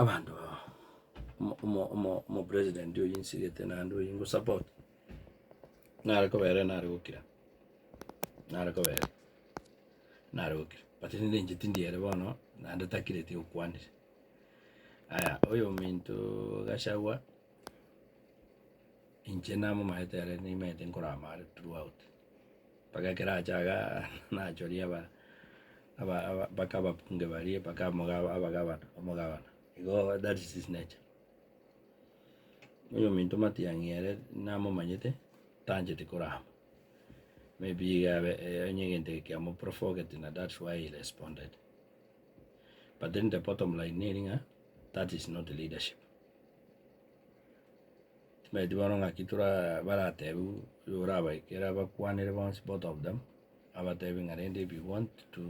Abanto aba omo- omo- omo- omopresident oyio nsigete naende oyio ngosupport, nare kobera ere nare gokira, nare kobera ere nare gokira but rende inche tindi ere bono naende takireti okwanire. Aya oyominto gachagua. Inche namomaete ere nimaete nkorama are throughout, mpaka ekero acha iga nachoria aba aba aba mpaka abakunge baria mpaka omoga abagabana omogabana igo that is his nature. Oyominto matiang'i ere namomanyete tancheti korama, maybe iga abe onye egento eke kiamo provoked na that's why he responded, but then the bottom line nere ng'a that is not leadership. Tibeti bono ng'aki toraa baratebe igo orabaikere abakwanere bonsi both of them, abatebie ng'a rende if you want to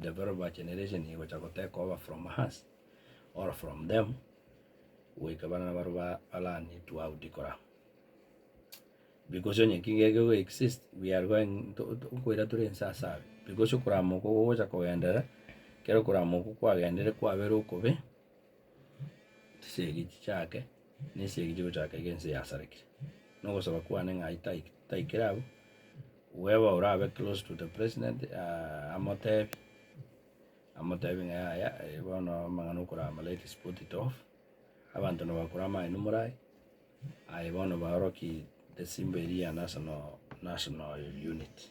develop a generation egocha gotake over from us or from them, goika barabwo nabare ba ba learn it how to kora. Because onye ki geke go exist we are going to to nkoira tore inse ase aba, because okoramoka ogocha kogenderera, ekero okoramoka kwagenderire kwabera okobe. chisegi chichake, na esegi chigochaka iga ense yasarekire. Na ogosaba kwane ng'a aye taikire abwo, weba orabe close to the president amotebi, amotebi ng'a yaya bono amang'ana okora ama let's put it off, abanto nabakore amang'ana imore aye, aye bono baorokie esimba eria ya national national unity.